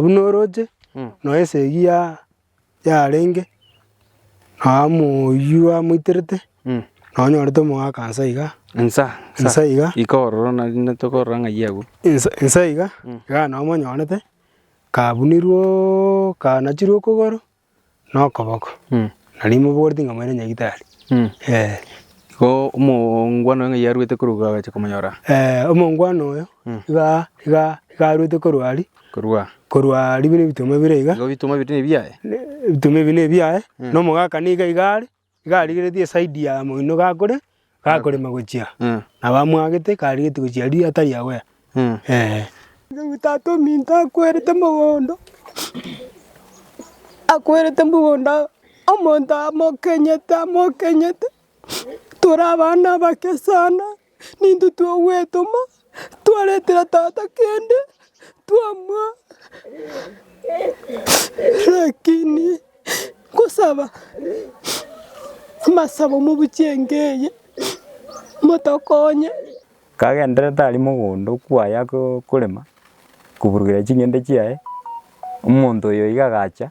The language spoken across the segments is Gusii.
Buna oroche nonya esegi ya- yarenge nonya moyio amoiterete nonya onyorete omogaka nsa iga Nsa nsa iga Iko ororo na rinde tokorora ng'ai agwo. nsa nsa iga, iga nonya omonyorete kabunirwe oo kanachirwe okogoro. nokoboko, na rimobooreti ng'a moire nyagitari. Igo omongwana oyo ng'ai arwete korwa iga agacha komonyora? Eh, omongwana oyo iga iga iga arwete korwa aria, Korwa? korwa aria buna ebituma bire iga, Igo ebituma ebio tibiri nebiaye? ne- ebituma ebi nebiaye, na omogaka niga iga are. Iga arigeretie eside ya moino gakore gakorema gochia, nabo amwagete iga arigetie gochia aria atari aware ee. Riu tata ominto akwerete mogondo, akwerete mogondo omonto amokenyete amokenyete, tore abana abake sana. Nintwe twogwetoma, twaretera tata kende, twamoa lakini nkosaba amasabo mobuchie enka eye, motokonye. Kagenderete aria mogondo okwo aye akorema, koburugera ching'ende chiaye, omonto oyo iga agacha.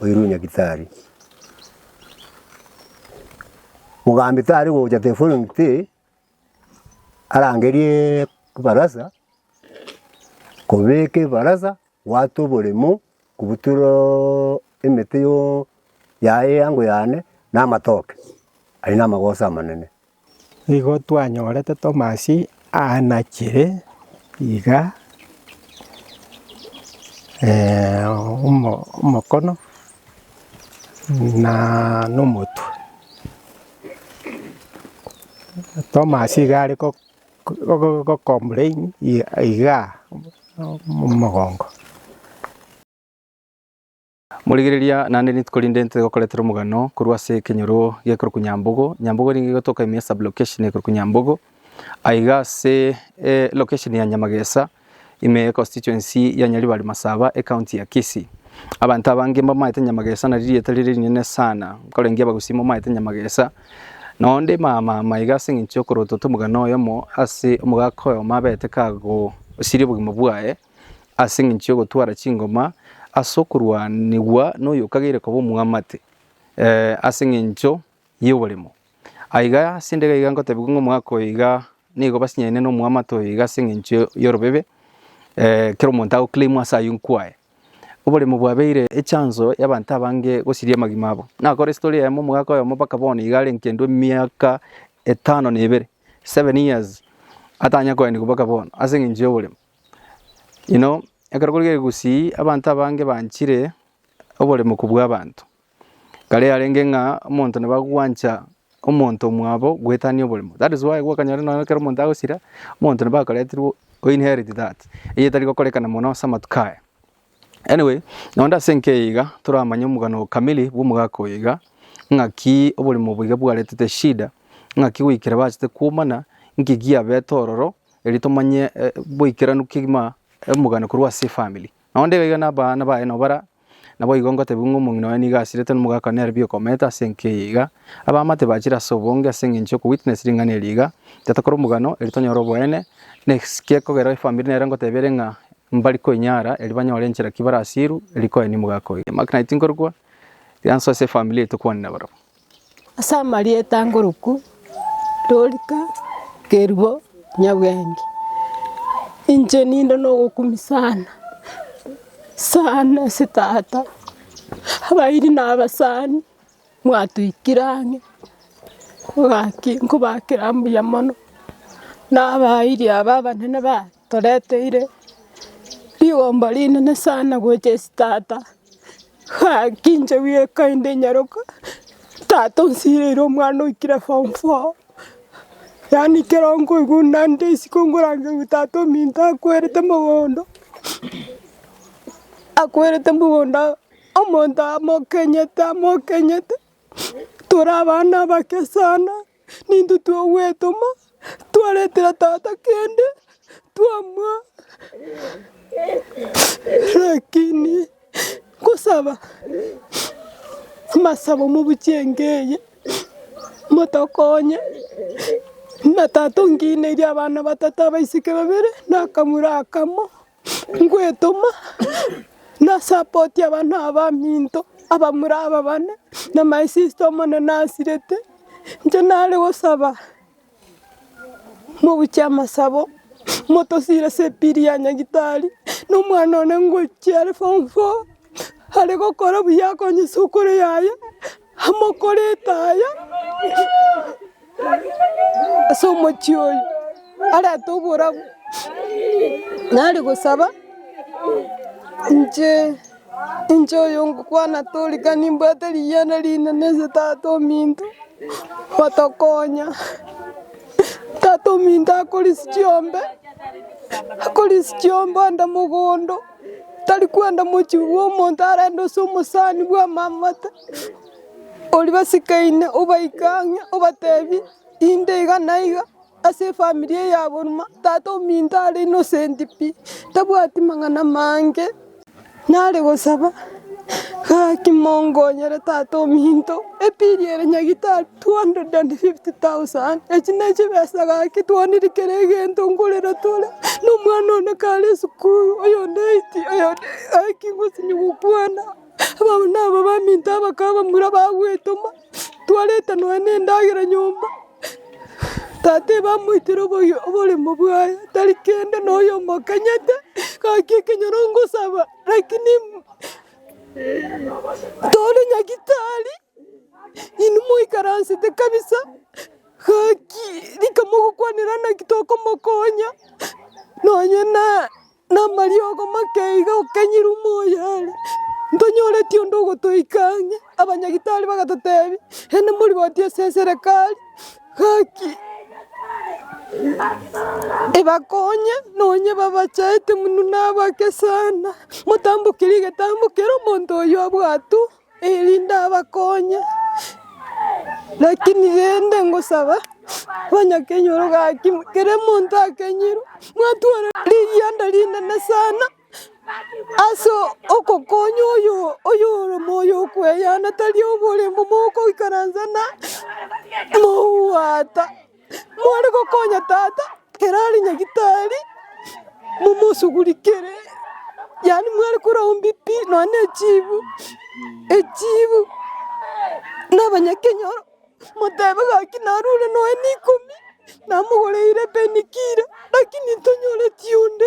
oirwe Nyagitari. Mogambi tari gocha teforongite arangerie ebarasa, kobeka ebarasa, gwata oboremo, kobutoroo emete yoo yaye eango yane na amatoke, aye namagoso amanene. Nigo twanyorete Tomasi aanachire iga omokono na omotwe. Tomasi iga are ko complain igaa omogongo. Morigereria, naende rituko rinde ntoe gokoretera omogano korwa ase ekenyoro gekorokwa Nyambogo. Nyambogo erenge egotoka ime ya sub-location ekorokwa Nyambogo. Aiga ase location ya Nyamagesa, ime ye constituency ya Nyaribari Masaba, ecounty ya Kisii. Abanto abange mbamaete Nyamagesa nari rieta rire rinene sana, nkorengia Abagusii momaete Nyamagesa. Nonya onde maamama iga ase eng'encho yokorotota omogano oyomo ase omogaka oyomo abete kagosiria obogima bwaye. ase engencho y'ogotwara chingoma ase okorwanigwa noyo okageire koba omwamate eh, ase engencho y'oboremo. Aiga ase ndege iga ngotebiwa ng'a omwaka oyo iga nigo basinyaine na omwamate oyo iga ase engencho y'orobebe eh, kera omonto agoclaimwa ase ayio nkwaye. Oboremo bwabeire echanso y'abanto abange gosiria amagima abo. Nakore story eyemo omogaka oyomo mpaka bono iga are nkendwa emiaka etano na ebere, seven years, atanya koenigwa mpaka bono ase engencho y'oboremo. Inwe ekero korigia egusii abanto abange banchire oboremu kobua abanto, kare yarenge ng'a omonto nabo agwancha omonto omwabo goetania oboremo. That is why gwakanyora nonya ekero omonto agosira, omonto nabo akoretirwe o inherit that, eye etari gokorekana mono ase amatuko aya. Anyway, naende ase enki eye iga toramanye omogano kamili bw'omogaka oyo iga, ng'aki oborimo obo iga bwaretete eshida, ng'aki goikera bachete kwomana, nki giabete ororo, erio tomanye eh, boikeranu kegima omogano korwa ase efamiri. Naende iga iga na abana baye nabo bara, naboigo ngotebiwa ng'a omong'ina oye nigo asirete na omogaka one nere biokomeete ase enki eye iga, abamama tibachire ase obonge ase eng'encho yoko witness ring'ana eri iga, intwe tokore omogano erio tonyore oboene, na eki gekogera efamiri nere ngoteba ere ng'a Mbari koinyara eri banyore enchera ki barasiru eri koe nimu gakoira. Mark naye tinkorokwa rianso ase efamiri yaito kwane nabarabwo. Ase amarieta nkorokwa Dorika, Kerubo, Nyabwenge. Inche ninde nogokumi sana sana ase tata abairi nabasani mwatoikire ang'e mogaki nkobakera mbuya mono nabairi aba abanene bane. Toreteire rigomba rinene sana gocha ase tata, gaki inche bweka inde nyaroka, tata onsireire omwana oikire form four, yaani ekero nkoigwa naende isiko nkorangeria tata ominto akwerete mogondo, akwerete mogondo omonto amokenyete amokenyete, tore abana abake sana. Nintwe twogwetoma, twaretera tata kende, twamoa, rakini nkosaba amasabo mobuchie enka eye, motokonye na tata onkineirie abana batato abaiseke babere na akamura akamo. Ngwetoma nasapoti abana aba baminto abamura aba bane na my sister Omonene asirete. Inche nare gosaba mobuche amasabo motosire ase epili ya nyagitari na omwana one ngochia are form four are gokora buya akonyesokore yaye. Amokorete aya ase omochie oyo, arente oborabu, nare gosaba inche, inche oyo ngokwana torika nimbwate riyiana rinene ase tata ominto, otokonya. Tata ominto akore ase chiombe, akore ase chiombe onde mogondo. tari kwenda mochie bwa omonto arende ase omosani bw'amamate, oria basikaine obaike ang'e obatebie inde iga na iga ase efamiri eye yabo orimo tata ominto are innocent pi, tabwati mang'ana maange, nare gosaba gaki mongonyere tata ominto, epiiri ere nyagitari. 250,000, echi nechibesa gaki twonire kera egento ngorera tore, na omwana one kare esukuru, oyonde eiti, oyonde gaki gosini gokwana, abana aba baminto abakaba bamura bagwetoma, twareta nonya na endagera nyomba, tata ebamoitire oboyo oboremo bwaye, tari kende na oyomo okanyete, gaki ekenyoro ngosaba, lakini tore nyagitari. Inwe moikaransete kabisa, gaki rika mogokwanera naki tokomokonya, nonye na namariogo make iga okenyire ime oye are, ntonyoreti onde ogotoika ang'e. Abanyagitari bagatotebia, Naende morigotie ase eserekari, gaki ebakonye nonye babachaete muna nabake sana, motamboki rigetambo kera omonto oyio abwatwe. erinde abakonye, rakini rende ngosaba onye kenyoro gaki kera omonto akenyirwe mwatwara rigianda rinene sana ase ogokonya oyo oyoremo oyo okweyana tari oboremo mogoikaransa na mouwata. More gokonya tata ere are nyagitari, momosugurikere, yaani mware korwao mbi pi nonya na echibu, echibu, na abanyakenyoro, motebe gaki narure nonya na ikomi, namogoreire ebeni kilo, lakini ntonyore tionde.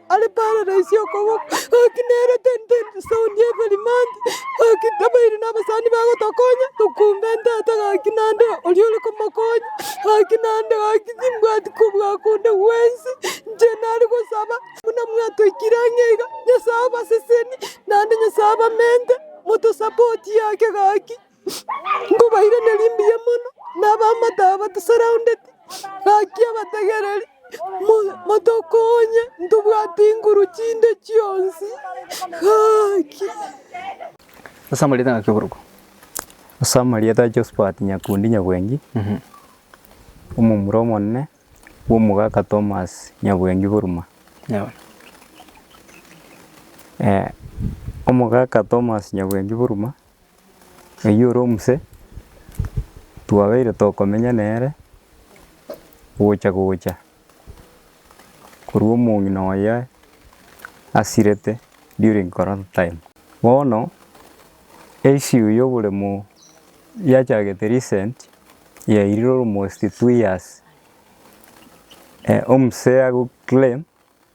Are paradaisi y'okoboka, gaki nere tente etauni y'Eberimante, gaki tabairi nabasani bagotokonya, tokumbe ntata gaki nande oria ore komokonya, gaki nande gaki timbwati kobua konde gwensi, inche nare gosaba buna mwatoikire ang'e iga, Nyasae obaseseni, naende Nyasae abamente, motosapotie ake gaki. Nkobairaneria mbuya mono na abamate aba batusurroundeti, gaki abategereri, motokonye, ntobwati nguru chinde chionsi, gaki. Ase amarieta ngaki oboruko? Ase amarieta a Josphat Nyakundi Nyabwengi, omomura omonene bw'omogaka Thomas Nyabwengi Buruma. Omogaka Thomas Nyabwengi Buruma. Oyio ore omuse twabeire tokomenya nere gocha gocha korwa omong'ina oye asirete during corona time. Bono issue ya oboremo yachagete recent yairire almost two years, omuse agoclaim.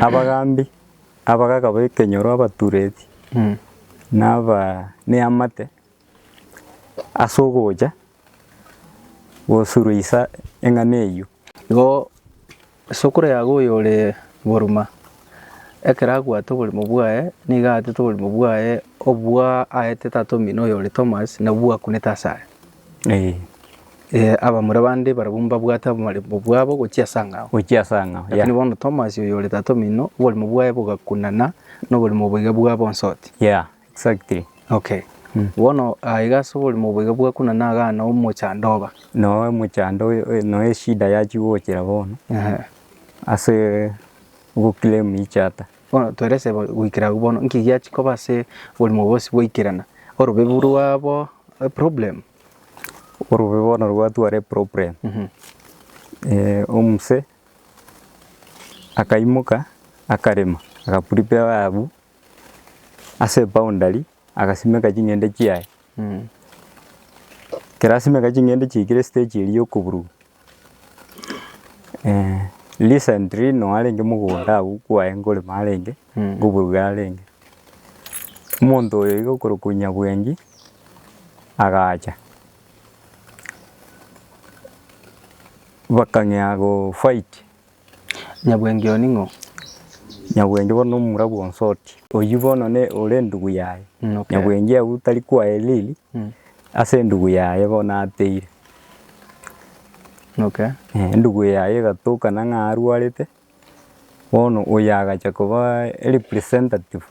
Abagaambi, abagaaka b'ekenyoro, abatureeti, na aba neamate ase ogocha gosuruisa eng'ana eyio. Igo isokoro yago oyore boruma, ekero agwate oborimo bwaye, nigo aatete oborimo bwaye obwo aete tata omino oyore Tomas, nabwo bwakunete asare. Abamura bande barabwo mbabwate abarembo bwabo gochia ase angao. Gochia ase angao, yeah. Lakini bono Tomasi, oyo ore tata omino, oborimo bwaye bogakunana noborimo boiga bwa bonsoti. Yeah, exactly. Okay. Bono aiga ase oborimo boiga bwakunana igaa noo omochando oba. Noo omochando oyo oyo noo eshida yachia gochera bono, Ehe. asee ogoclaim each other. Bono twerese goikera agwo bono, nki giachia koba ase oborimo bwonsi goikerana? Orobebu rwabo eproblem? Orobebu bono rwatwara eproblem, omose akaimoka akarema, agaprepare abwo ase eboundary. agasimeka ching'ende chiaye. Ekero asimeka ching'ende chiaikire stage eria ya okoburuka, recently no arenge mogondo agwo kwaye nkorema arenge, nkoburuka arenge, omonto oyo iga okorokwa Nyabwengi agacha, bakang'ea gofight. Nyabwengi oo ning'o? Nyabwengi bono nomomura bw'onso oria. Oyio bono ne ore endugu yaye. Nyabwengi agwo tari kwaye riri ase endugu yaye bono ateire. Endugu yaye egatokana ng'a arwarete, bono oyo agacha koba representative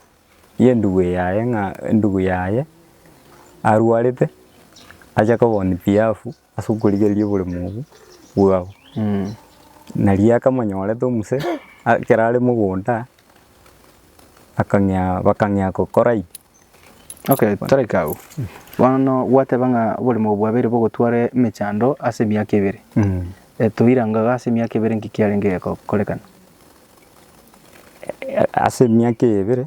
y'endugu eye yaye ng'a endugu yaye arwarete ache kobonwa behalf ase okorigereria oboremu obwo bwao. Nari akamonyorete omuse ekero are mogondo akang'ea bakang'ea gokora pi. Okay, toraike agwo. Bono gwateba ng'a oboremu obwo bwabeire bogotwara emechando ase emiaka ebere. Toiranga iga ase emiaka ebere nki kiarenge gekorekana? Ase emiaka eye ebere.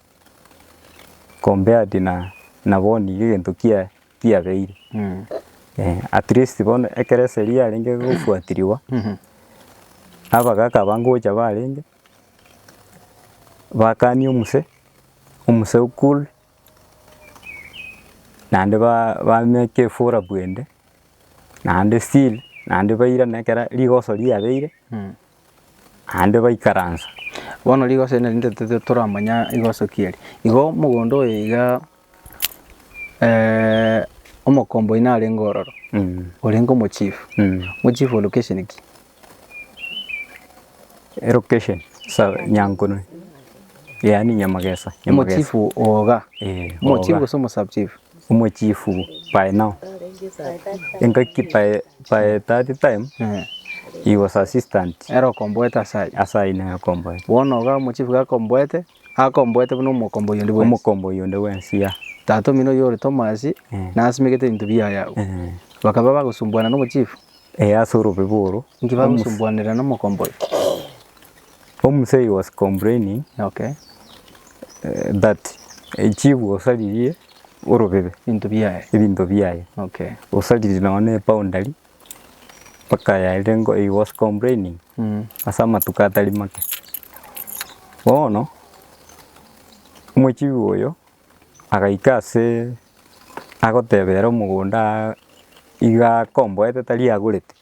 compared na na bono iga egento kia kiabeire. At least bono ekero eseri yarenge gofuatirigwa, abagaka aba ngocha barenge, bakani omose, omose o cool, naende ba ba make efora bwende, naende still naende bairane ekera rigoso riabeire. Naende baikaransa. Bono rigoso eri narinde toramanya rigoso ki eri. Igo omogondo oyo iga omokomboa oino arenge ororo, orenge omochief, omochief o location ki? Elocation sa Nyankunui, yaani Nyamagesa, Nyamagesa. Omochief o iga, omochief gose omo sub chief? omochifu by now engaki by that time he was assistant ere okomboete ase ayio ase ayio nere okomboete bono iga omochifu iga akomboete akomboete buna omokomboyia onde bwensi omokomboyia onde bwensi yeah tata omino oyio ore Tomasi nasimegete ebinto biaye agwo bakaba bagosumbuana na omochifu ase orobibo oro inki bagosumbuanera na omokomboyia. Omusayi was complaining Okay. that chiguo osaririe orobebe Ebinto biaye. ebinto biaye. Okay. Osaririe nonya na eboundary mpaka yaerire ngo he was complaining Mm. ase amatuko atari make. Bono omochigwa oyo agaika ase agotebera omogondo aa iga akomboete tari agorete.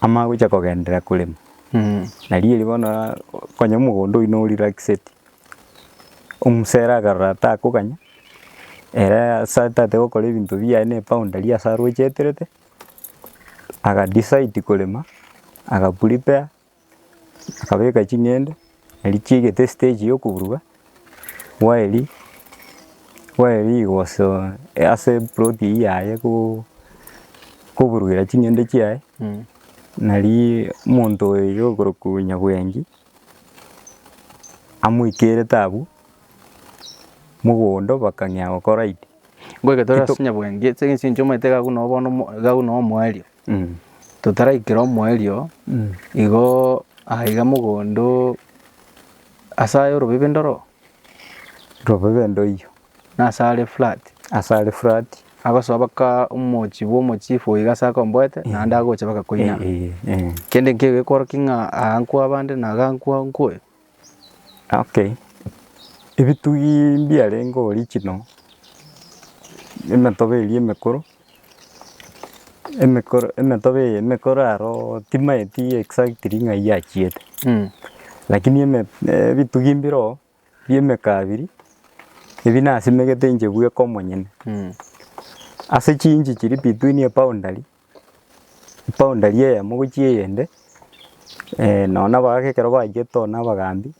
amagocha kogenderera korema, na rieri bono konya omogondo oyio no relaxeti, omosera akarora takoganya, ere ase atagete gokora ebinto biaye na eboundary ase arocheterete, aga decide korema, aga prepare. Nkabeka ching'ende, erio chiegete estage ya okoburuka, bwaerio, bwaerio rigoso ase eploti eywo yaye ko- koburugera ching'ende chiaye, naria omonto oyo okorokwa nyabwengi, amoikerete abwo, mogondo bakang'ea gokora id. Ngoika tore ase nyabwengi, ase eng'encho omanyete iga agwo noo bono iga agwo noo omoerio. Totaraikera omoerio, igo aiga mogondo ase aye orobibe ndoro. Robibe ndoiyo. Na ase are flat. Ase are flat. Agosoa baka omochi bwa omochifu oiga ase akomboete naende agocha baka koinana. Kende nkeigo ekworokia ng'a aa nkwa abande na iga nkwa oyo. Ok, ebitugi mbiarenge original, emetobe eria emekoro, emekoro emetobe eye emekoro aro timaeti exactly ng'a eyio achiete. Lakini eme ebitugi mbire oo bia emekabiri, ebi nasimegete inche bweka omonyene. Ase chiinchi chiria between eboundary Eboundary eyemo gochia eyende, nonya na abagaka ekero baigete oo na abagambi,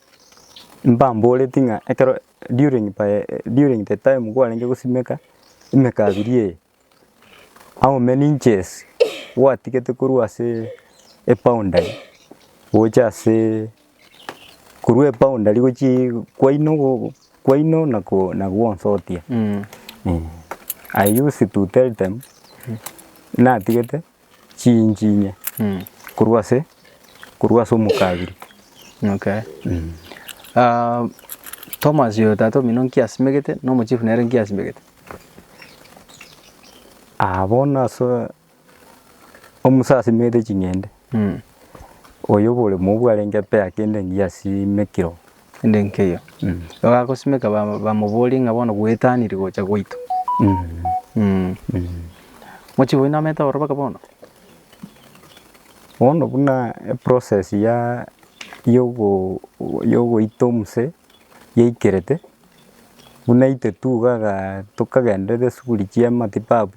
mbamboreti ng'a ekero during by during the time kwarenge gosimeka emekabiri eye, how many inches gwatigete korwa ase eboundary gocha ase. Korwa eboundary gochia kwaino go kwaino na ko na gwonsotia I used to tell them natigete chiinchi inye korwa ase korwa ase omokabira. Okay. Thomas oyo tata omino nki asimegete na omochifu nere nki asimegete? Aa bono ase. Omusa asimete ching'ende, oyo oboremo obwe arenge apea kende engiya asimekire oo. Kende nkeiyo. Igo agosimeka ba- bamoborie ng'a bono gwetaniri gocha gwaito. Mochibe oino amete ororo mpaka bono? Bono buna eprocess ya yogo yogoita omuse yaikerete, buna aiteti iga iga tokagenderera esuguri chiamatibabu.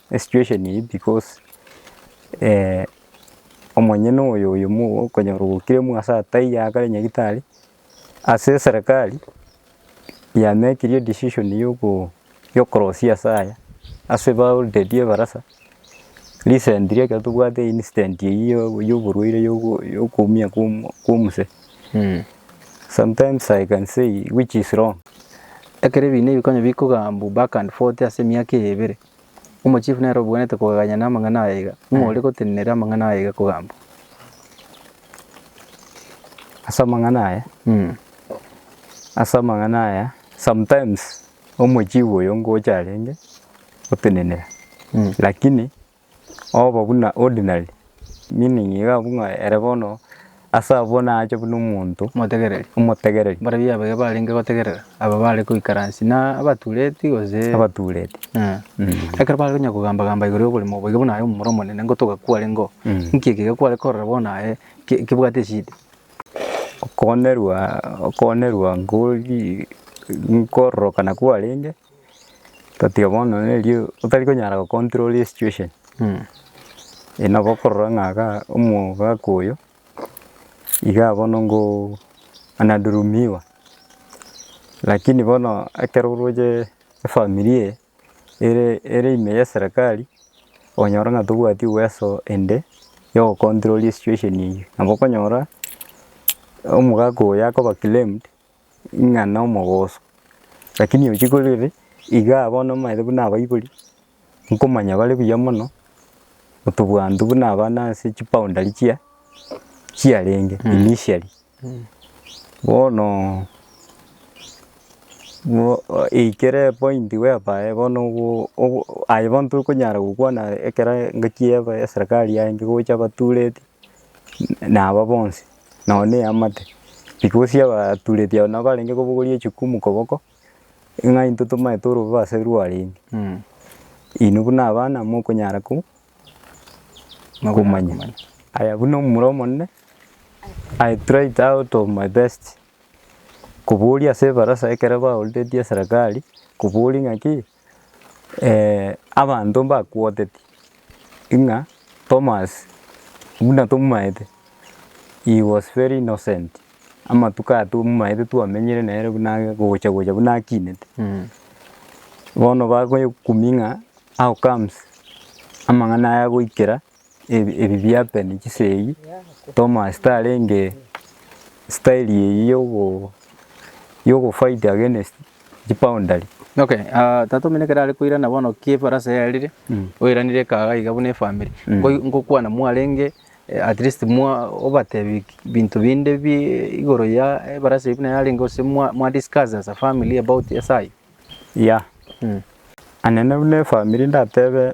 esituesheni eyio bikosi omonyene oyo oyo okonyora ogokire omwase ataiyo akare nyagetari ase eserekari yamekirie edecision ya okorosia ase aya ase ba already ebarasa recent ri ekero tobwate incident eyio ya oborwaire ya okoumia kwa omosee sometimes i can say which is wrong. Ekero ebiina ebi konya bikogambwa back and forth ase emiaka eye ebere, Omochifu nere obwenerete kogaganya na amang'ana aya iga, ng'o ore gotenenera amang'ana aya iga kogambwa? Ase amang'ana aya, Mm. ase amang'ana aya sometimes omochifu oyo ngocha arenge gotenenera Mm. lakini oba buna ordinary meaning iga abwo ng'a ere bono. Ase abwo naache buna omonto Omotegereri. omotegereri. Mbarabwo abaya barenge gotegerera, aba bare goikaransi, na abatuureti, gose. Abatuureti. Eh. Mm. Ekero bare konya kogamba-gamba igoro y'oborimo obo, iga buna aye omomura omonene ngotoga kwarengeo, Mm. inki eke iga kware korora bono aye ki- kebwate eshida? Okoonerwa, okoonerwa ngori, nkororokana kwarenge. Tatiga bono neri otari konyara go control esituesheni, eye nabo okorora ng'a iga omogaka oyo iga bono ngo anadhulumiwa, lakini bono ekero oroche efamiri eye ere ere ime ya eserekari, okonyora ng'a tobwati uweso ende yo go control esituesheni eyio. Nabo okonyora omogaka oyo akoba claimed. ng'a nomogoso, lakini ochi korere igaa bono omaete buna abaibori, nkomanya bare buya mono, otobwantu buna abana ase chiboundary chia chiarenge initially. Bono mo- o- eikere epointi whereby bono ogo- ogo- aye bono tokonyara gokwana ekero engaki ya eserikari yaye enke gocha abatureti, naba bonsi. nao neamate, because y'abatureti aba nabo barenge kobogoria echukumu koboko, ng'a intwe tomanye torobe ase rwarenge. Inwe buna abana mokonyara ko- komanya. Aya buna omomura omonene, I tried out of my best koboria ase ebarasa ekero baororeti eserekari, koboria ng'aki, abanto mbakwoteti ng'a Thomas buna tomomaete he was very innocent, amatuko aya tomomaete twamenyire nere buna ake gocha gocha buna akinete. Bono bakoyekumi ng'a how comes amang'ana aya agoikera. ebi biapeni chisegi Thomas tarenge style eye yogo yogo fight against chi boundary. Okay ah tata omino ekero are koirana bono ki efarasi yarire oiranire ekaga iga buna efamiri ngokwana mwarenge at least mwa obatebi binto binde bi igoro ya efarasi eye buna yarenge gose mwa mwa discuss as a family about ase ayio? Yea anene buna efamiri ndatebe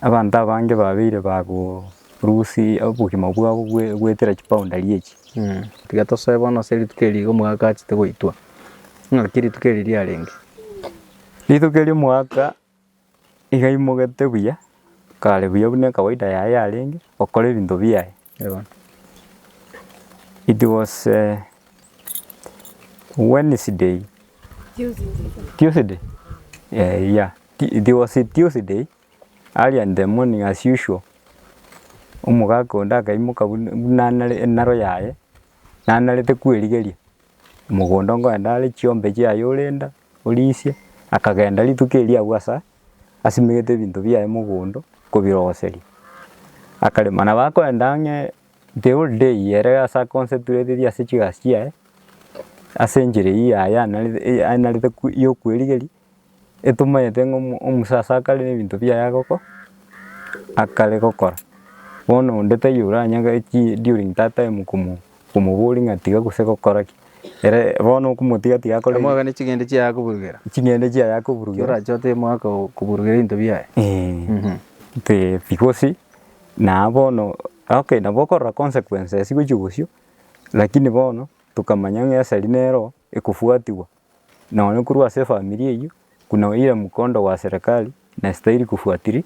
Abanto abange babeire bagorusia obogima bwabo goetera chipaundari echi. Tiga tosoe bono ase rituko eri iga omogaka achete goitwa. Ng'aki rituko eri riarenge? Rituko eri omogaka iga aimogete buya, kare buya buna ekawaida yaye yarenge, okora ebinto biaye. It was a Wednesday, Tuesday, uh, yeah, Tu- it was a Tuesday, early in the morning as usual, omogaka onde akaimoka buna- buna nare- enaro yaye, nanarete kwerigeria, mogondo ngoenda are chiombe chiaye orenda, orisia, akagenda rituko erio abwo asa asimegete ebinto biaye mogondo kobirogoseria, akarema. Nabo akoenda ang'e the whole day ere ase a concentratetie ase chigasi chiaye, ase enchera eyio yaye anarete anarete ya okwerigeria, etomanyete ng'a omo omosaso akare na ebinto biaye agoko akare gokora. Bono onde taiyo oranyare ki during that time komo. Omoborie ng'a tiga gose gokora ki, ere bono okomotiga tiga akore ki? Amoe gane ching'ende chiaye akoburugera. Ching'ende chiaye akoburugera. Ekero orache otebe moe aka koburugera ebinto biaye. Ee. Te tigosi na bono okay nabo okorora consequences gochia bosio lakini bono tokamanya ng'a esari nero ekofuatigwa. Nonya korwa ase efamiri eyio, buna oira mkondo wa serekari nastahiri kufuatiri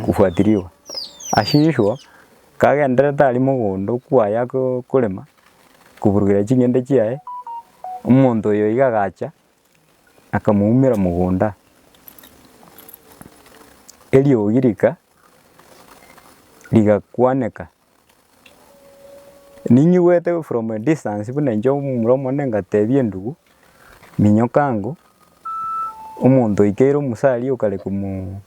kufuatirigwa. Asiswa kagendererete aria mogondo okwo aya ko- korema, koburugera ching'ende chiaye, omonto oyo iga agacha akamoumera mogondo. Eriogi rika rigakwaneka. Ninyigwete from a distance buna inche omomura omonene ngatebia endugu, minyoka ango, omonto oikeire omusa aria okare komo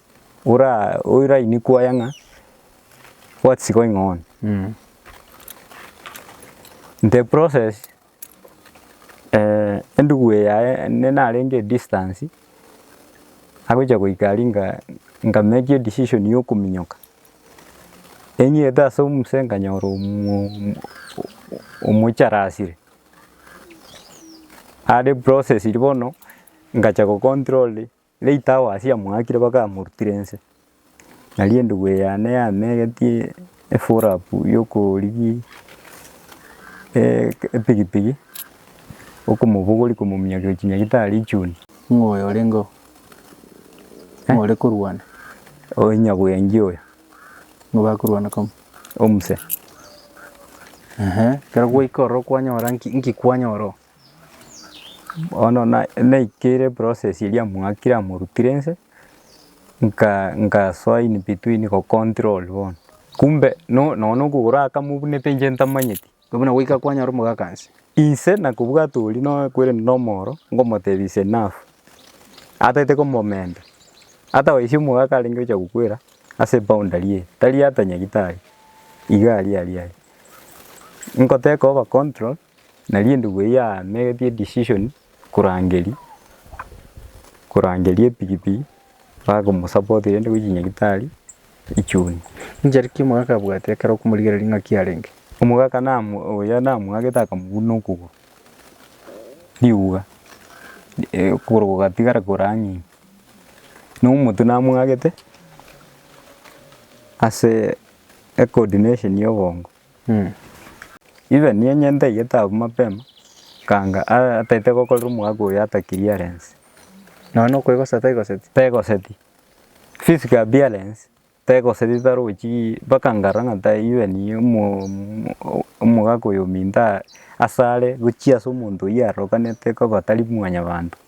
ora orainekwa oye ng'a what's going on? The process endugu eye yaye ende narenge a distance, agocha goika aria nga nka make a decision ya okominyoka. Enyete ase omuse nkanyora omoicharasire are processed bono ngacha ko control late hours amoakire mpaka amorutire nse. Nario endubu eye yane yamegetie efollow up ya okorigia epikipiki okomobogoria komominyokia gochia nyagetari chuni. Ng'o oyo orenge oo? More korwana. Oyo nyabwengi oyo. Nigo bakorwana kamo. Omuse. Ehe. Kero gwaika ororo kwanyora nki, nki kwanyora oo? Bono na- naikeire process eria mwakire amorutire nse, nka nkasoa in between go control bono. Kumbe no- nonya okogoro akamobunete inche ntamanyeti. Igo buna goika kwanyora omogaka inse. Inse nakobwate oria nakwerende nomoro, ngomotebia ise nafu, atagete komomenta. Atabaisia omogaka arenge gocha gokwera ase eboundary eye, tari ata Nyagetari, iga aria aria aria. Ngoteka over control, nari endubu eyio yamegetie decision korangeria, korangeria epikipiki bakomosapotia rende gochia Nyagetari echuni. Inche rikia omogaka abwate ekero okomorigereria ng'aki arenge. Omogaka namu oya namwagete akamobuna okogoro, riguga okogoro gogatigara korang'ina. Na omotwe namwagete ase ecoordination ya obongo. Ibe niyenyente aigete abwo mapema, kanga ataete gokorera omogaka oyo ata clearance. Nonya na okoegoseti taigoseti, taigoseti. Physical appearance, taigoseti tarochi mpaka nkarora ng'a tai ibe niye omo- o- omogaka oyo ominto asare gochia ase omonto oyio arokanete koba tari mwanyabanto.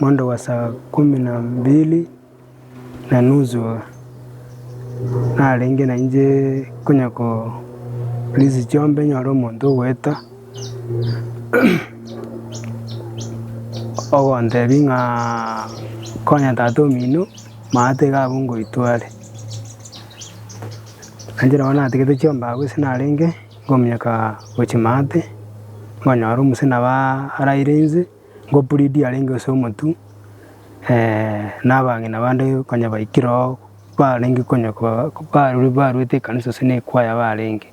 Mondo wa saa ikomi na mbili na nusu iga narenge nainche konya korisia chiombe nyore omonto ogoeta ogontebia ng'a konya tata omino maate iga abwo ngoitware. Nainche nabo natigete chiombe agwo ase narenge ngominyoka gochia maate, ngonyora omosee nabo araire inse. Gopuridi arenge ase omotwe, na abang'ina bande konya baikire oo, barenge konya baruete ekanisa gose ne ekwaya barenge.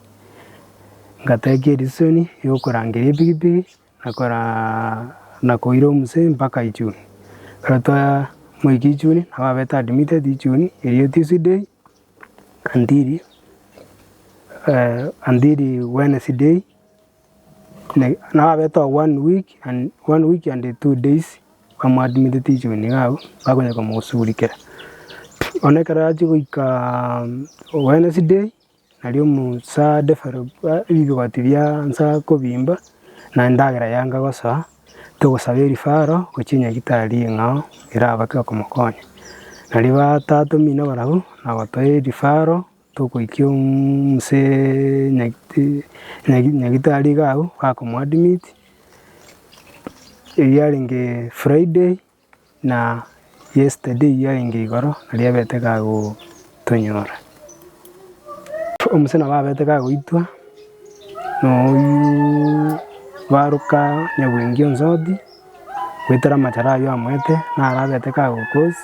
Ngatekia edisisioni ya okorangeria epigipigi na koraa na koira omoseee mpaka ichuni. Ekero twamoika ichuni, nabo abete admitted ichuni erio tuesday until until wednesday. Nabo abete oo one week and one week and two days bamoadmitete ichiko nigo abwo, bakonya komosugurikera. Bono ekero achia goikaaa wednesday nario musa develop ebigoti bia nsa kobimba, na endagera yanga gosoa, togosaba erifaro gochia nyagetari ng'a oo erabake okomokonya. Nario batatomino barabwo, nagotoa erifaro. Togoikia omuse nyagetari iga agwo, bakomoadmit, erio yarenge Friday na yesterday yarenge igoro naria abete gagotonyora. Omuse nabo abete kagoitwa na oyio baroka nyaboingi onsi odi. Goetera amacharo ayio amoete, naro abete kagokos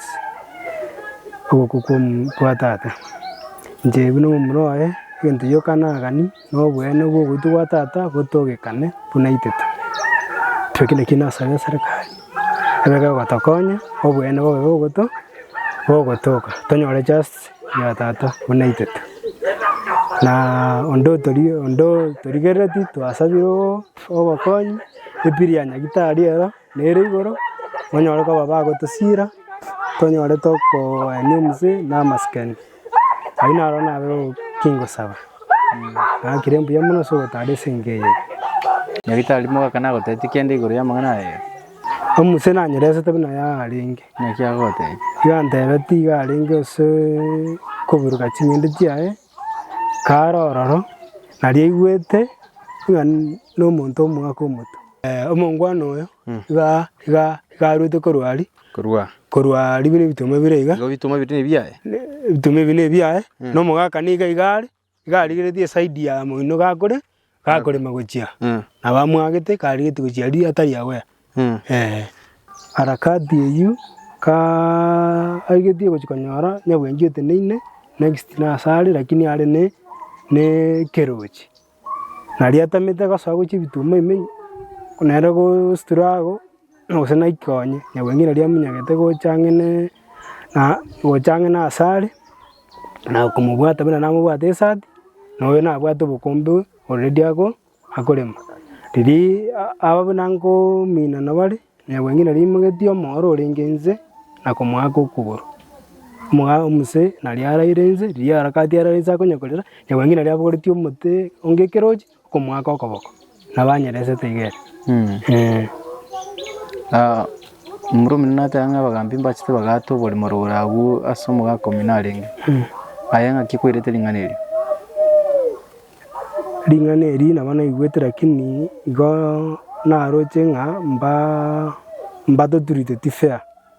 ogokwa kw'omonto kwa tata. Inche ebi nomomura oye, egento gioka nagani, na oboene bw'ogoitwa gwa tata botogekane buna aitete. Ekio kende ki nasabera eserekari, ebe kegotokonya, oboene bobe bogoto bogotoka, tonyore justice ya tata buna aitete. Na onde otori onde otorigereti twasabire oo. Obokonyi, Epiri ya Nyagitari ero nere igoro, monyore koba bagotosiira, tonyore tokoenia omosie na amasikani. Ayio naro nabe kingosaba. Nakire mbuya mono ase ogotara esegi eye. Nyagitari mogaka nagotebie kende igoro y'amang'ana aya. Omosie nanyeresete buna yarenge. Naki agogotebia? Gantebeti iga arenge ase koburuka ching'ende chiaye. Kare ororo, nariaigwete ng'a nomonto omoake omoto. Omongwana oyo iga iga iga arwete korwa aria, Korwa korwa aria buna ebituma bire iga, igo bituma biri nebiaye. ne ebituma ebi nebiaye, na omogaka niga iga are, iga arigeretie eside ya moino gakore, Gakorema gochia, nabamwagete karigetie gochia aria atari agwea. Harakati eyio karigetie gochia konyora nyabwengi oteneine next nase are lakini are ne ne ekerochi. Nario atamete gosoa gochia ebituma ime, nere gositura ago. gose naikio onye nyagweng'ina riria amonyagete gocha ang'e ne na gocha ang'e nase are, na komobwata buna namobwate esati, na oyo nabwate obokombe oredi ako akorema. Riria a- aba buna nkominana bare, nyagweng'ina riria aimogetie omoro orenge inse na komoaka okogoro, omoa omose naria araire inse, riria aragatie arara inse akonyekorera, nyagweng'ina riria abogoretie omote onge ekerochi. Okomoaka okoboko, nabo anyeresete iga ere. Omorwoti omonene nateba ng'a abagaambi mbachete bagaate oborimo rogoro agwo ase omogaka omino arenge. Aye ng'aki kwerete ring'ana erio? Ring'ana eri nabo naigwete lakini igo naroche ng'a mba- mbatoturite ti fair.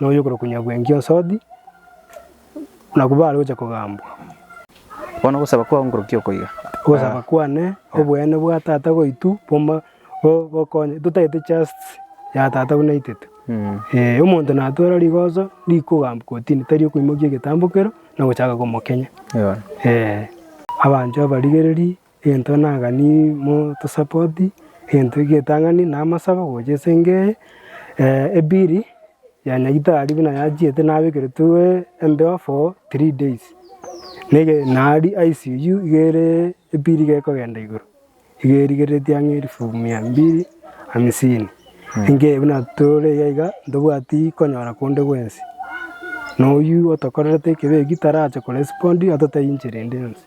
na oyokorokwa Nyabwengi Osodi, nabwo baare gocha kogambwa. Bono ogosaba kwao nkorukia oko iga. Ogosaba kwane, oboene bwa Tata goitw boma bogokonye, totagete justice ya Tata buna aitete. Ee, omonto natwera rigoso rikogambwa kotini, tari okoimokia egetambo kero na gochaka komokenya. Ee. Abanchwa abarigereri, Egento naganire motosapoti, egento egetang'ani na amasabo gocha ase engo eye, ebiri ya nyagetari buna yachiete nabekeretwe embeo for three days, nege nari ICU iga ere ebiri iga ekogenda igoro, iga erigereretie ang'e elfu mia mbili hamsini, engo eye buna tore iga iga ntobwati konyora konde gwensi, na oyio otokorerete ekebeyi tarache korespond atotebie inche rende yonsi.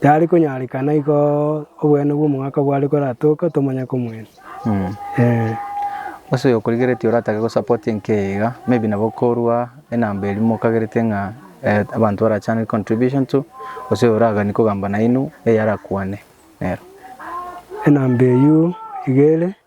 Tari konyarekana igo obweene bw'omogaka bware koratoke otomanya komwene. Gose oyokorigeretie oratake go support enka eye iga maybe nabo korwa enamba eria mokagerete ng'a abanto barachane contribution to gose oyo oragani kogamba nainwe eyara kwane nero. Enamba eyio iga ere.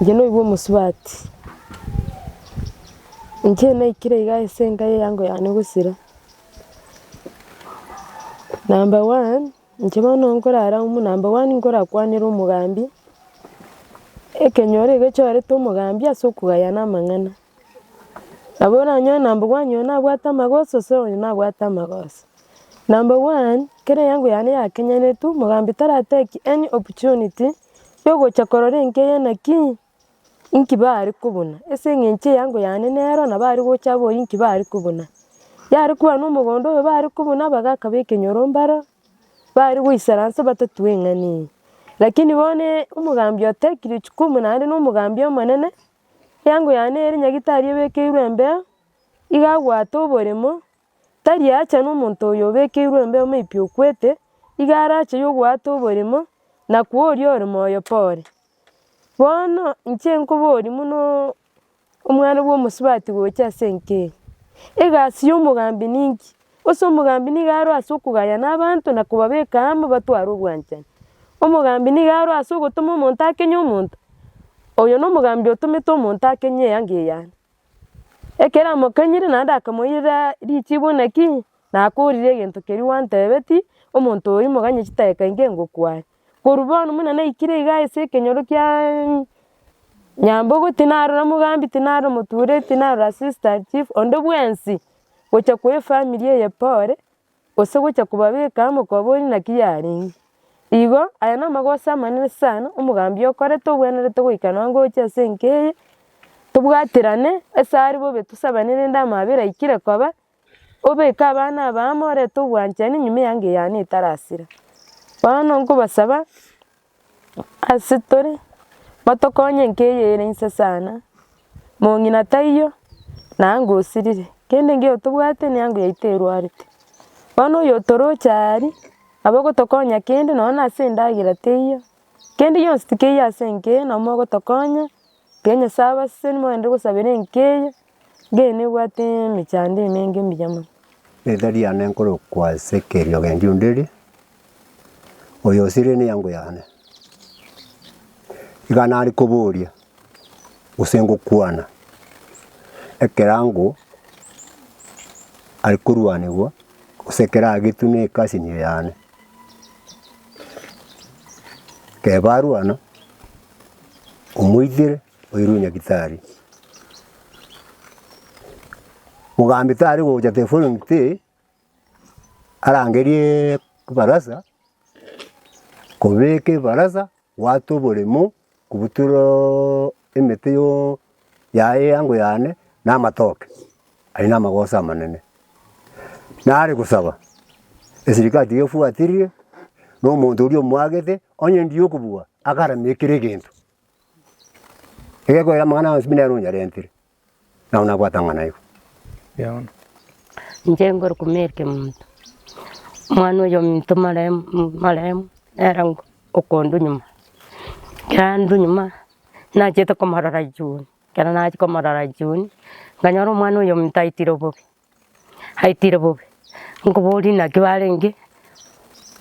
Inche noigwe omosubati, inche naikire iga ase enka y'eango yane gosira, number one, inche bono nkorara amo, number one nkorakwanere omogambi, ekenyoro egechorete omogambi ase okogayana amang'ana. Nabo oranyore number one oyo nabwate amagoso gose oyo nabwate amagoso. Number one, ekero eyango yane yakenyanetwe, omogambi tara take any opportunity ya ogocha korora enka eye naki inki bare kobuna, ase eng'encho eyango yane nero nabo are gocha abore inki bare kobuna. Yare koba na omogondo oyo bare kobuna bagaka ba ekenyoro mbaro, bare goisaransa batatue eng'ani eye. Lakini bono omogambi otekire jukumu naende na omogambi omonene. Eango yane ere nyagitari ebekeirwe embeo, igo abwate oboremo, tari aacha nomonto oyo obekeirwe embeo maybe okwete, igo arache yo obwate oboremo, na kwa oria ore moyo pore. Bono inche nkoboria munoo omwana bwa omosubati gocha ase enka eye, egasi ya omogambi ninki? Ase omogambi nigo aro ase okogayana abanto na kobabeka amo batware obwanchani. Omogambi nigo aro ase ogotoma omonto akenye omonto, oyo nomogambi otomete omonto akenye eanga eyane. Ekero amokenyire naende akamoirera richibo naki, nakorire egento keria gwantebetie, omonto oyo moganye chidakika inke ngokwane. Korwa bono buna naikire iga ase ekenyoro kia Nyambogo, tinarora mogambi, tinarora omotuure, tinarora assistant chief, onde bwensi gocha koa efamiri eye pore, gose gocha kobabeka amo koba onye naki yarenge. Igo aya namagoso amanene sana omogambi okorete obwenerete goika nonye ngocha ase enka eye, tobwaterane ase are bobe tosabane rende amaabera aikire koba. Obeke abana aba amo orete obwanchani nyuma eanga eyane etarasira. Bono nkobasaba ase tore motokonye enka eye ere inse sana, mong'ina taiyo na anga osirire kende engiya otobwate na anga yaito erwarete. Bono oyo otoroche aa aria nabo ogotokonya kende nonye na ase endagera teiyo, kende gionsi tikeiyo ase enka eye nabo mogotokonya, ekero Nyasae abasesenirie mogenderere gosabera enka eye. Inche nebwate emechando emenge mbuya mono. Riteta riane nkorokwa ase ekeriogendi onde ri, Oyosirie neango yane. Iga nare koboria gose ngokwana ekerango are korwanigwa gose keragetwe ne ekasinio yane. Ekero barwana, omoitere. Oirwe Nyagitari. Mogambi tari gocha teforongite arangerie ebarasa, kobeka ebarasa, gwata oboremo, kobutoroo emete yoo yaye eango yane na amatoke, aye na amagoso amanene. Nare gosaba, esirikari tiga efuatirie, na omonto oria omwagete, onye ndiyo okobua, agaramie kera egento. Egekoera amang'ana onsi buna ere onyarentire, nabo nabwate amang'ana aye. Inche ngoro komerike monto, omwana oyo ominto maremu maremu nere ngo okondu nyuma, ekero andu nyuma nachete komorora jioni, ekero nachia komorora jioni, nanyora omwana oyo ominto aitire obobe. Aitire bobe, nkoboria inaki barenge,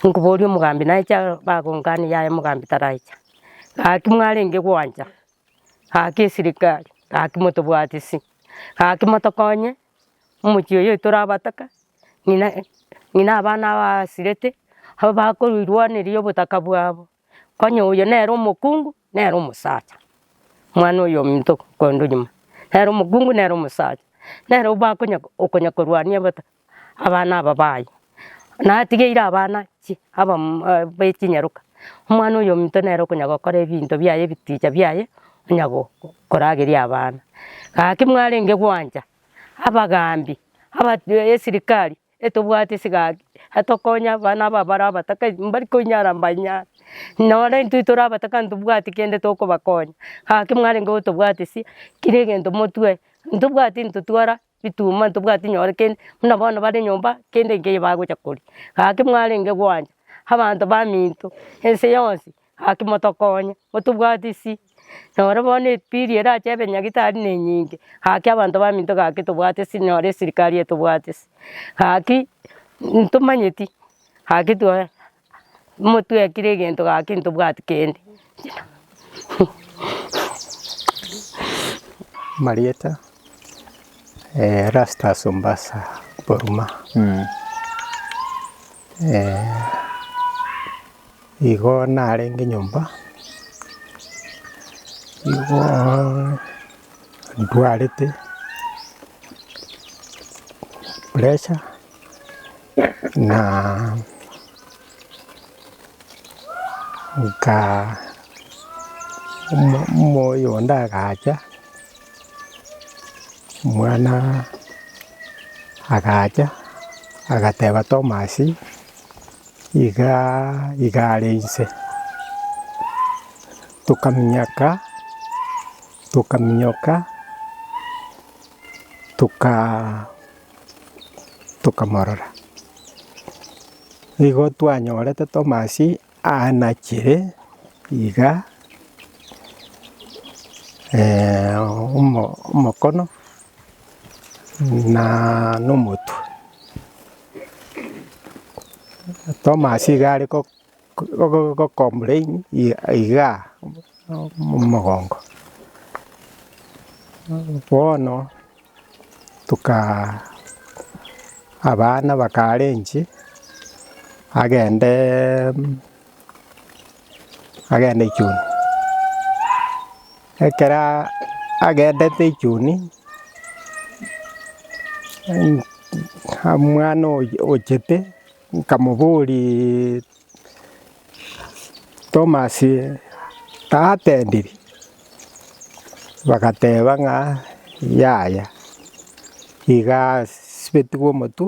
nkoboria omogambi naecha bagongane yaya omogambi taracha. Gaki mwarenge gwancha, gaki esirikari, gaki motobwati ase, gaki motokonye, omochie oyo torabataka, ng'ina ng'ina abana aba asirete, abakorirwaneria obotaka bwabo. Onye oyo nere omokungu nere omosacha, omwana oyominto korende onyuma nere omokungu nere omosacha, nere obakonya okonya korwania abata abana aba baye, natigeire abana chi abamo e bechinyaroka, omwana oyominto nere okonya gokora ebinto biaye ebiticha biaye onya go korageria abana. Gaki mwarenge gwancha, abagambi, aba esirikari. Etobwate sigaki etokonya abana aba abare abataka mbari koinyara mbainyare, nonye intwe tore abataka ntobwati kende tokobakonya, gaki mwarenge gotobwati sia kera egento motue, ntobwati ntotwara bituma ntobwati nyore kende buna bono bare nyomba kende nkeyo bagocha koria, gaki mwarenge gwancha abanto baminto ense yonsi. Gaki motokonye, motobwatie isi. Noro bono epili erache ebenyagitari ne enyinge, gaki abanto baminto gaki tobwate isi nyore esirikari etobwate isi. Gaki ntomanyeti, gaki twa motwekire egento gaki ntobwati kende. Marieta, Erastus Ombasa Boruma. Igo narenge nyomba, nigo ndwarete pressure na nka omo- omoyo onde agacha, omwana agacha agateba Tomasi. iga iga are inse, tokaminyaka tokaminyoka toka tokamorora. Nigo twanyorete Thomas anachire iga omo omokono na omotwe. Thomas iga are go- go- go complain i- iga mogongo, bono toka abana bakarenchi agendeeee. agenda echuni. Ekero agendete echuni, omwana oyio ochete nkamoboriaaa Thomas tatendiri, bagateba ng'a yaya iga asibetigwe omotwe.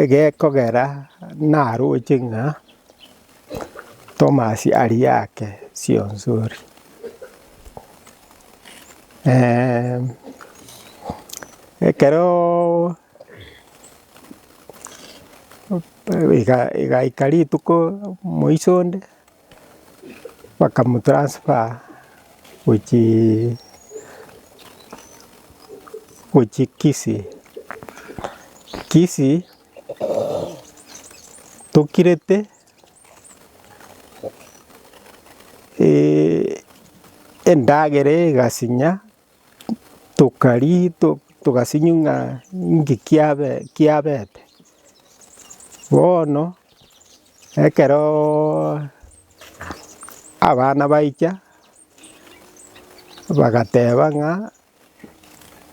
Egekogera naroche ng'a Thomas aria yake sionsori. Ekeroooo igaika rituko moiso onde. bakamotransfer gochii gochia Kisii. Kisii tokirete endagera egasinya. tokaria togasinywa ng'a inki kiabe kiabete. Bono ekeroooo abana baicha bagateba ng'a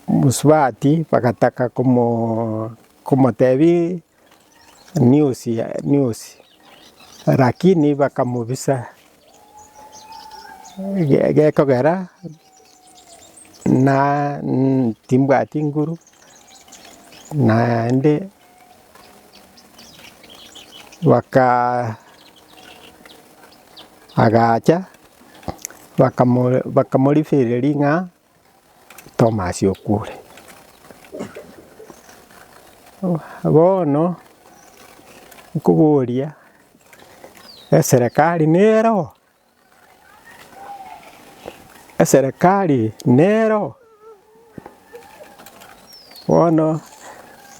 mosubati bagataka komoo komotebia. niosi, lakini bakamobisa gekogera timbwati nguru naende agacha bakamorifereria ring'aa. Tomasi okwore. Bono nkoboria eserekari nero? Eserekari nero? Bono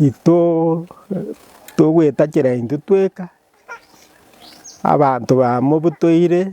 ito togwetachera intwe tweka, abanto bamobutoire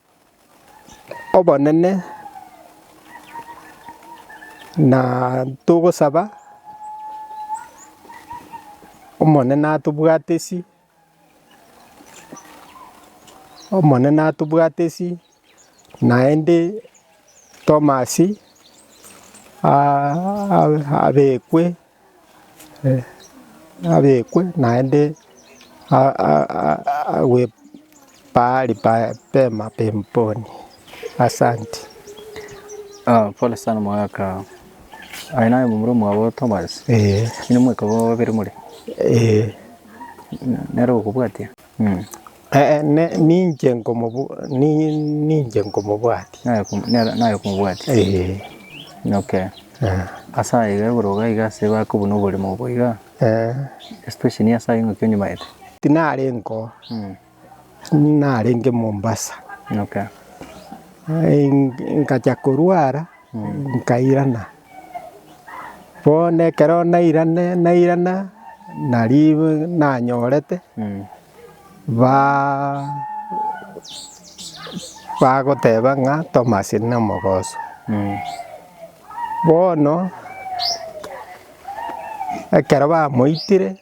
obonene na togosaba Omonene atobwate ase, Omonene atobwate ase naende Tomasi abekwe. abekwe naende agwe pahali pema peponi. Asanti. Pole sana omogaka, aye naye omomura omwabo Tomasi, inwe mweka babere more? Nere ogokobwatia? Ee, ne- ninche nkomobu- ni- ninche nkomobwati. naye kom- nere- naye komobwati. Ee, Okay. eh, Ase aye iga igoro iga iga ase bakobuna oborimo obo iga, eh, especially niye ase aye ng'aki onyimaete. tinarenge oo, Mm. narenge Mombasa. Okay. Ai- nkacha korwara. Nkairana. Bono ekero nairane nairana naribu nanyorete ba bagoteba ng'a Thomas nomogoso. Bono ekero bamoitire.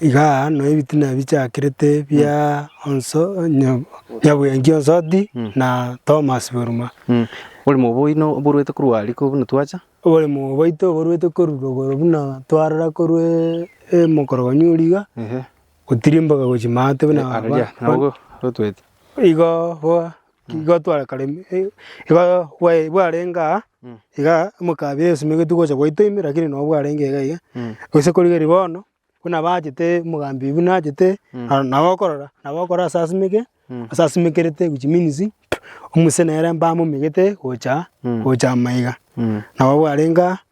Iga no ebitina bichakirete bia onso onye nyabuya nki onsoti na Thomas Boruma. Oborimo obo oino oborwete korwa riko buna twacha. Oborimo bwaito oborwete korwa rogoro buna twarora korwa emokorogonyo oria iga gotirimboka gochia maate buna. Igo boa. Igo twarekareti eh, igo bwae bwarenge aa Mm. igaa mokabi esimegeti gocha gwaito ime lakini noo bwarenge iga iga, Mm. gose korigeria bono buna abachete mogambi buna achete Mm. ah nabo okorora nabo okora ase asimeke Mm. ase asimekerete which means omosene ere mbamomegete gocha Mm. gocha maiga Mm. nabo bwarenge aa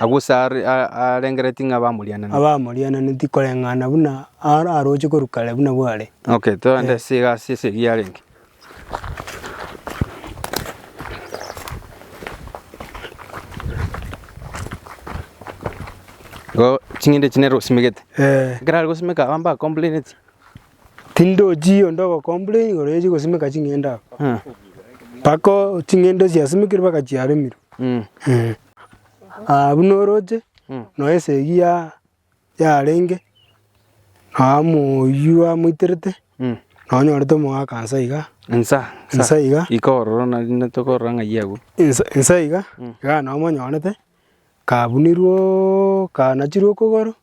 Agwo Sarai arengeretie ng'a bamoriananeti. Abamoriananeti koreng'ana buna aroche korwa kare buna bware. Okay, toende ase egasi ase eria yarenge. Igo ching'ende echi nere osimegete. Ekero are gosimeka abana mbacomplaineti, Tindochii onde ogocomplain igoro ye chigosimeka ching'ende aba. Mpaka o- ching'ende chiasimekire mpaka chiaremirwe. Eh. Ah, buna oroche, nonya esegi ya- yarenge, nonya moyio amoiterete, nonya onyorete omogaka nsa iga, Nsa Nsa iga. Iko ororo na- na tokorora ng'ai agwo. ensa ensa iga, iga nonya omonyorete, kabunirwe oo, kanachirwe okogoro.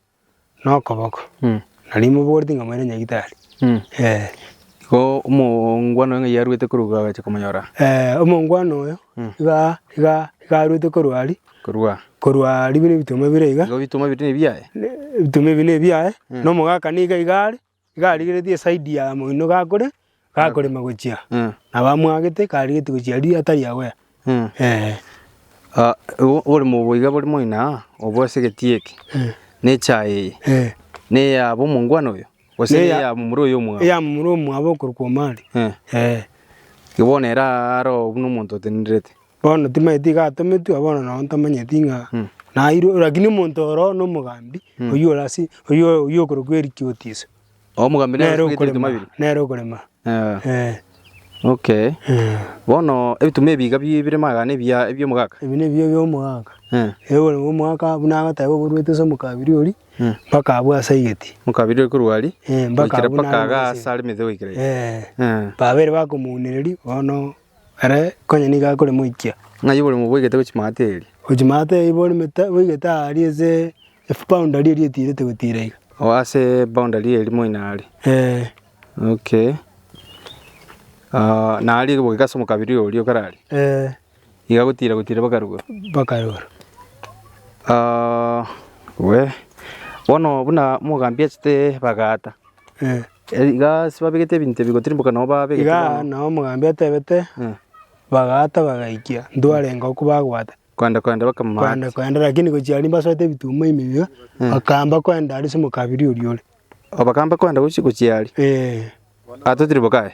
nokoboko, na rimobooreti ng'a moire nyagitari. Igo omongwana oyo ng'ai arwete korwa iga agacha komonyora? Eh, omongwana oyo iga iga iga arwete korwa aria, Korwa? korwa aria buna ebituma bire iga, Igo ebituma ebio tibiri nebiaye? ne- ebituma ebi nebiaye, na omogaka niga iga are. Iga arigeretie eside ya moino gakore gakorema gochia, nabo amwagete iga arigetie gochia aria atari aware, eh. Oboremo obo iga bore moino aa, obo ase egati eke, na echaye eye, neya bw'omongwana oyo, gose neya momura oyo omwabo? Eya momura omwabo okorokwa omari, eh. Bono ere aro buna omonto otenenerete. Bono timanyeti iga atometwe, bono nabo ntamanyeti ng'a nairwe, rakini omonto oro nomogambi, oyio ore ase oyio oyio okorokwa erikiotiso, Omogambi nere nere asubete ebituma okorema, bibiri. nere okorema, Eh, eh, okay. eh. Bono ebituma ebi iga bi- bire magana ebiya ebi omogaka. Ebi nebiyo bia omogaka, Eh, ewe ore omogaka buna agoteba oborwete ase omokabiri oria, Mm. mpaka abwo ase aigeti, omokabiri ore korwa aria, Eh, mpaka goikera abwo mpaka nare iga nase. ase are emetwe goikera iga. Eh, Eh, babere bakomounereria, bono Ere konya nigo akoremoikia. Ng'ai oborimo boigete gochimata eeri? Gochimata eeri borimete boigete aari ase efoundari eria etiirete gotiira iga. O ase eboundari eeri moino aare? Ee. Okay. Aah na aria gokigasa omokabira oria okare aria? Ee. Iga gotiira gotiira mpaka rugoro? Mpaka rugoro. Aah, we, bono buna omogambi achete ebagaata. Iga ase babegete ebinto ebi gotirimboka nao babegete Iga bono. nao omogambi atebete, Eh. Bagaata bagaikia, ntwarenge okwo bagwata. Koenda koenda bakamama Koenda ati. koenda, lakini gochia aria mbasoete ebituma ime iga, Eh. bakaamba koenda aria ase omokabiri oria ore. O bakamba koenda gochia gochia aria. Eh. Atotirimboka aye.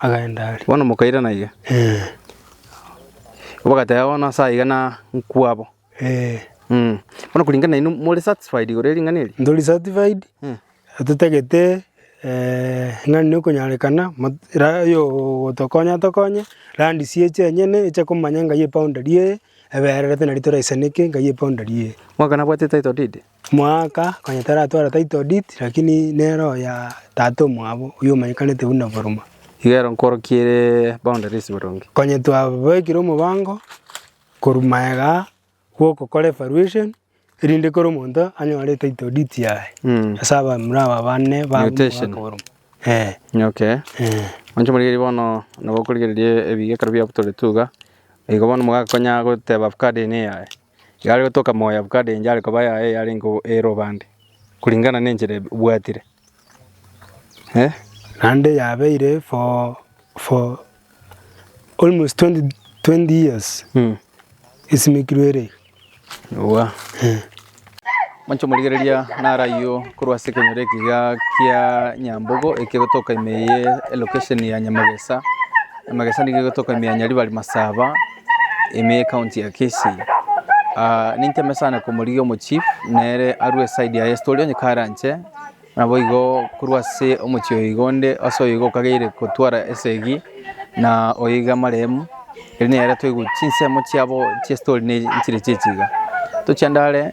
Agenda aria. Bono mokairana iga. Eh. Bagateba bono ase aiga na nkwabo. Eh. Mm. Bono kuringana nainwe more satisfied igoro ering'ana eri? Ntori satisfied. Mm. Totagete eh ng'ani nokonyarekana rayo otokonya tokonye randi sieche enyene eche komanya ngai e boundary eye ebererete nari toraisaneke ngai e boundary eye. Mwaka nabwate title deed? Moaka konya taratwara title deed lakini nero oya tata omwabo oyio omanyekanete buna Boroma. Iga ero nkorokie ere boundaries boronge. Konya twabekire omobango korwa maega gwokokora evaluation erinde kera omonto anyore etitle deed yaye Mm. ase abamura aba bane ba Mutation. Moaka Boroma. Eh, Okay. eh. Monche morigereria bono nabo okorigereria ebiga ekero biabutoretwe iga. Igo bono mogakonya goteba avocado eye neyaye. Ekero are gotoka moyo Abukade inche are koba yaye yarenge ere obande, kuringana nenchera ebwatire. Eh. Naende yabeire for for almost twenty twenty years Mm. esimekirwe ere iga. Ewa. Monche omorigereria naro ayio korwa ase ekenyoro eke iga kia Nyambogo eke gotoka ime eye elocation ya Nyamagesa. Nyamagesa nigo egotoka ime ya Nyaribari Masaba. Ime county ya Kisii. Ah, nintembe sana komorigia omochief nere arue eside yaye story onye karanche nabo igo korwa ase omochie oyo igo onde ase oyo igo okageire kotwara esegi na oyo iga amaremu eri nere toigwe chinsemo chiabo chie story ne chire chichiga tochiandare